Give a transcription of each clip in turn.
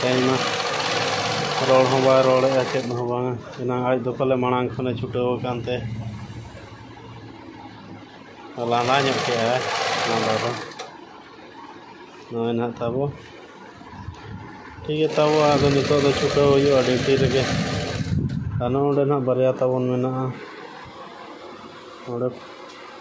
ᱛᱮᱦᱮᱧ ᱢᱟ ᱨᱚᱲ ᱦᱚᱸ ᱵᱟᱭ ᱨᱚᱲᱮᱫᱼᱟ ᱪᱮᱫ ᱦᱚᱸ ᱵᱟᱝᱟ ᱮᱱᱟᱝ ᱟᱡ ᱫᱚ ᱯᱟᱞᱮ ᱢᱟᱲᱟᱝ ᱠᱷᱚᱱᱮ ᱪᱷᱩᱴᱟᱹᱣ ᱟᱠᱟᱱ ᱛᱮ ᱞᱟᱸᱫᱟ ᱧᱚᱜ ᱠᱮᱫᱼᱟᱭ ᱞᱟᱸᱫᱟ ᱫᱚ ᱱᱚᱜᱼᱚᱭ ᱱᱟᱦᱟᱜ ᱛᱟᱵᱚ ᱴᱷᱤᱠ ᱜᱮᱭᱟ ᱛᱟᱵᱚ ᱟᱫᱚ ᱱᱤᱛᱚᱜ ᱫᱚ ᱪᱷᱩᱴᱟᱹᱣ ᱦᱩᱭᱩᱜᱼᱟ ᱰᱤᱭᱩᱴᱤ ᱨᱮᱜᱮ ᱟᱨ ᱱᱚᱜᱼᱚᱸᱰᱮ ᱱᱟᱦᱟᱜ ᱵᱟᱨᱭᱟ ᱛᱟᱵᱚᱱ ᱢᱮᱱᱟᱜᱼᱟ ᱱᱚᱸᱰᱮ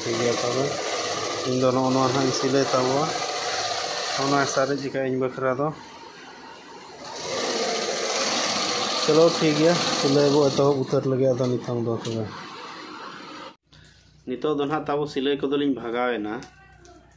ᱴᱷᱤᱠ ᱜᱮᱭᱟ ᱛᱚᱵᱮ ᱤᱧ ᱫᱚ ᱱᱚᱜᱼᱚ ᱱᱚᱣᱟ ᱦᱟᱸᱜ ᱤᱧ ᱥᱤᱞᱟᱹᱭ ᱛᱟᱵᱚᱣᱟ ᱚᱱᱟ ᱥᱟᱨᱮᱡ ᱠᱟᱜᱼᱟ ᱤᱧ ᱵᱟᱠᱷᱨᱟ ᱫᱚ ᱪᱚᱞᱚ ᱴᱷᱤᱠ ᱜᱮᱭᱟ ᱥᱤᱞᱟᱹᱭ ᱵᱚ ᱮᱛᱚᱦᱚᱵ ᱩᱛᱟᱹᱨ ᱞᱟᱹᱜᱤᱫ ᱟᱫᱚ ᱱᱤᱛᱚᱝ ᱫᱚ ᱛᱚᱵᱮ ᱱᱤᱛᱚᱜ ᱫᱚ ᱱᱟᱦᱟᱜ ᱛᱟᱵᱚ ᱥᱤᱞᱟᱹᱭ ᱠᱚᱫᱚᱞᱤᱧ ᱵᱷᱟᱜᱟᱣᱮᱱᱟ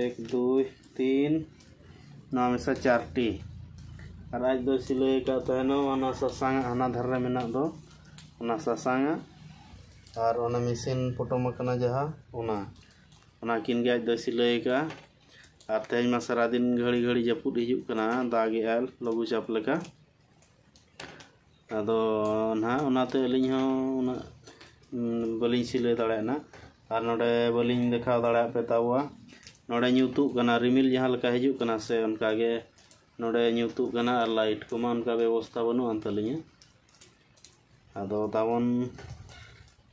ᱮᱠ ᱫᱩᱭ ᱛᱤᱱ ᱱᱚᱣᱟ ᱢᱮᱥᱟ ᱪᱟᱨᱴᱤ ᱟᱨ ᱟᱡ ᱫᱚ ᱥᱤᱞᱟᱹᱭ ᱟᱠᱟᱫ ᱛᱟᱦᱮᱱᱟ ᱚᱱᱟ ᱥᱟᱥᱟᱝ ᱦᱟᱱᱟ ᱫᱷᱟᱨᱮ ᱨᱮ ᱢᱮᱱᱟᱜ ᱫᱚ ᱚᱱᱟ ᱥᱟᱥᱟᱝ ᱟᱨ ᱚᱱᱟ ᱢᱮᱥᱤᱱ ᱯᱚᱴᱚᱢ ᱟᱠᱟᱱᱟ ᱡᱟᱦᱟᱸ ᱚᱱᱟ ᱚᱱᱟ ᱠᱤᱱ ᱜᱮ ᱟᱡ ᱫᱚ ᱥᱤᱞᱟᱹᱭ ᱟᱠᱟᱫᱼᱟ ᱟᱨ ᱛᱮᱦᱮᱧ ᱢᱟ ᱥᱟᱨᱟᱫᱤᱱ ᱜᱷᱟᱹᱲᱤ ᱜᱷᱟᱹᱲᱤ ᱡᱟᱹᱯᱩᱫ ᱦᱤᱡᱩᱜ ᱠᱟᱱᱟ ᱫᱟᱜᱮᱜᱼᱟᱭ ᱞᱚᱜᱷᱩ ᱪᱟᱯ ᱞᱮᱠᱟ ᱟᱫᱚ ᱱᱟᱦᱟᱜ ᱚᱱᱟᱛᱮ ᱟᱹᱞᱤᱧ ᱦᱚᱸ ᱩᱱᱟᱹᱜ ᱵᱟᱹᱞᱤᱧ ᱥᱤᱞᱟᱹᱭ ᱫᱟᱲᱮᱭᱟᱜ ᱱᱟᱜ ᱟᱨ ᱱᱚᱰᱮ ᱵᱟᱹᱞᱤᱧ ᱫᱮᱠᱷᱟᱣ ᱫᱟᱲᱮᱭᱟᱜ ᱯᱮ ᱛᱟᱵᱚᱣᱟ ᱱᱚᱰᱮ ᱧᱩᱛᱩᱜ ᱠᱟᱱᱟ ᱨᱤᱢᱤᱞ ᱡᱟᱦᱟᱸ ᱞᱮᱠᱟ ᱦᱤᱡᱩᱜ ᱠᱟᱱᱟ ᱥᱮ ᱚᱱᱠᱟ ᱜᱮ ᱱᱚᱰᱮ ᱧᱩᱛᱩᱜ ᱠᱟᱱᱟ ᱟᱨ ᱞᱟᱭᱤᱴ ᱠᱚᱢᱟ ᱚᱱᱠᱟ ᱵᱮᱵᱚᱥᱛᱷᱟ ᱵᱟᱹᱱᱩᱜ ᱟᱱ ᱛᱟᱹᱞᱤᱧᱟ ᱟᱫᱚ ᱛᱟᱵᱚᱱ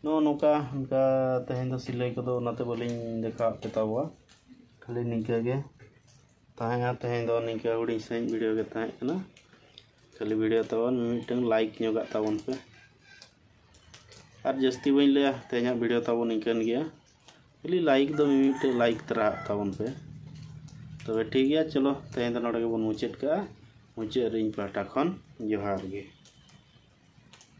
ᱱᱚᱜᱼᱚ ᱱᱚᱝᱠᱟ ᱚᱱᱠᱟ ᱛᱮᱦᱮᱧ ᱫᱚ ᱥᱤᱞᱟᱹᱭ ᱠᱚᱫᱚ ᱚᱱᱟᱛᱮ ᱵᱟᱹᱞᱤᱧ ᱫᱮᱠᱷᱟᱣᱟᱫ ᱯᱮ ᱛᱟᱵᱚᱣᱟ ᱠᱷᱟᱹᱞᱤ ᱱᱤᱝᱠᱟᱹ ᱜᱮ ᱛᱟᱦᱮᱸ ᱦᱟᱸᱜ ᱛᱮᱦᱮᱧ ᱫᱚ ᱱᱤᱝᱠᱟᱹ ᱦᱩᱰᱤᱧ ᱥᱟᱺᱦᱤᱡ ᱵᱷᱤᱰᱤᱭᱳ ᱜᱮ ᱛᱟᱦᱮᱸ ᱠᱟᱱᱟ ᱠᱷᱟᱹᱞᱤ ᱵᱷᱤᱰᱤᱭᱳ ᱛᱟᱵᱚᱱ ᱢᱤᱫᱴᱟᱝ ᱞᱟᱭᱤᱠ ᱧᱚᱜᱟᱜ ᱛᱟᱵᱚᱱ ᱯᱮ ᱟᱨ ᱡᱟᱹᱥᱛᱤ ᱵᱟᱹᱧ ᱞᱟᱹᱭᱟ ᱛᱮᱦᱮᱧᱟᱜ ᱵᱷᱤᱰᱤᱭᱳ ᱛᱟᱵᱚᱱ ᱱᱤᱝᱠᱟᱹᱱ ᱜᱮᱭᱟ ᱠᱷᱟᱹᱞᱤ ᱞᱟᱭᱤᱠ ᱫᱚ ᱢᱤᱢᱤᱫᱴᱟᱝ ᱞᱟᱭᱤᱠ ᱛᱟᱨᱟᱜ ᱛᱟᱵᱚᱱ ᱯᱮ ᱛᱚᱵᱮ ᱴᱷᱤᱠ ᱜᱮᱭᱟ ᱪᱚᱞᱚ ᱛᱮᱦᱮᱧ ᱫᱚ ᱱᱚᱰᱮ ᱜᱮᱵᱚᱱ ᱢᱩᱪᱟᱹᱫ ᱠᱟᱜᱼᱟ ᱢᱩᱪᱟᱹᱫ ᱨᱮ ᱤᱧ ᱯᱟᱦᱴᱟ ᱠᱷᱚᱱ ᱡᱚᱦᱟᱨ ᱜᱮ